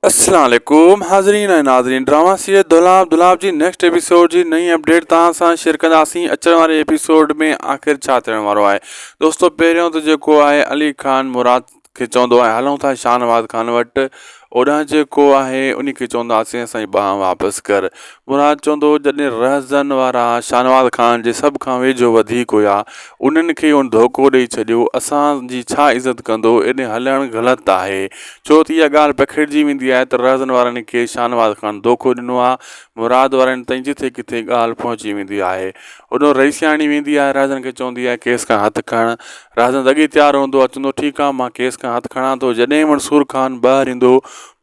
السلام عليڪم حاضرين ۽ ناظرين ڊراما سيد دولاب دولاب جي نيڪسٽ ايپيسوڊ جي نئين اپڊيٽ توهان سان شيئر ڪنداسين اچڻ واري ايپيسوڊ ۾ آخر ڇا ٿيڻ وارو آهي دوستو پهريون ته جيڪو آهي علي خان مراد کي چوندو آهي هلون ٿا شاهنواز خان وٽ اوڏانهن جيڪو آهي ان کي چونداسين سائين ٻانهن واپس ڪر مراد چوندو هو جڏهن رهزن وارا شاهنواز خان جي سڀ کان ويجهو وڌيڪ هيا انهن کي هن ڌوڪو ڏئي ڇڏيو اسان جي ڇا عزت ڪندو ايڏي هلڻ غلط آهي ڇو ته اها ڳالهه پکيڙجي ويندي آهي ته رهزن وارن کي شاهنواز خان ڌوڪو ڏنو آهي مراد وارن تائين جٿي ڪٿي ڳالهه پهچي ويندي آهي اڏو رئيسياڻي ويندي آهي رهزن کي چوندي آهي ڪيس کان هٿ کڻ رهزن اڳي تيار هوندو آهي چوندو ٺيڪ آهي مان ڪيس کان هٿ کڻان ٿو جڏهن منصور خان ٻاهر ايندو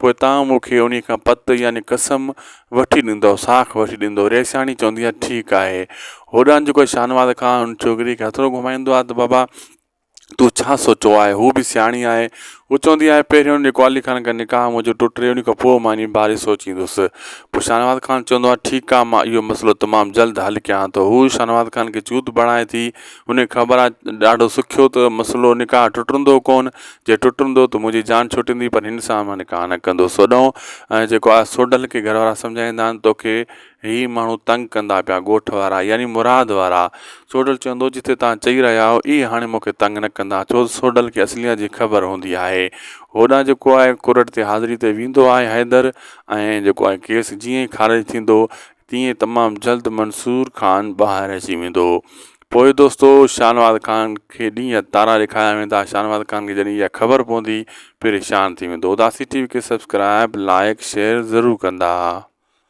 پوء تان مون کي انهي کان پت يعني قسم وٺي ڏيندو، ساک وٺي ڏيندو. ريسياڻي چوندي آهي، ٺيڪ آهي. هوڏانهن جيڪو شاهنواز خان هن ڇوڪريء کي هٿڙو گهمائيندو آهي ته بابا! تون ڇا سوچيو آهي؟ هوء به سياڻي آهي. هوء چوندي آهي، پهريون ان جيڪو علي خان کان نڪاح منهنجو ٽٽي، ان کان پوء مان انهيء باري سوچيندس. پوء شاهنواز خان چوندو آهي، ٺيڪ آهي، مان اهو مسئلو تمام جلد حل ڪيان ٿو. هوء شاهنواز خان کي چوڌ بڻائي ٿي. هن کي خبر آهي ته ڏاڍو سکيو ته مسئلو نڪاح ٽٽندو ڪونه. جي ٽٽندو ته منهنجي جان ڇٽندي پر هن سان مان نڪاح نه ڪندو سوڏهون ۽ جيڪو آء سوڍل کي گهر وارا سمجهائيندا آهن توکي هي ماڻهو تنگ ڪندا پيا ڳوٺ وارا يعني مراد وارا سوڍل چوندو جتي توهان چئي رهيا آهيو اهي هاڻي مون کي تنگ نه ڪندا ڇو ته سوڍل کي اصليات جي خبر هوندي آهي هوڏانهن جيڪو آء ڪورٽ تي حاضري تي ويندو آء حيدر ۽ جيڪو آء ڪيس جيئن ئي خارج ٿيندو تيئن ئي تمام جلد منصور خان ٻاهر اچي ويندو پوء دوستو شاهنواز خان کي ڏينهن تارا ڏيکاريا ويندا شاهنواز خان کي جڏهن اها خبر پوندي پريشان ٿي ويندو اداسي ٽي وي کي سبسڪرائب لائيڪ شيئر ضرور ڪندا.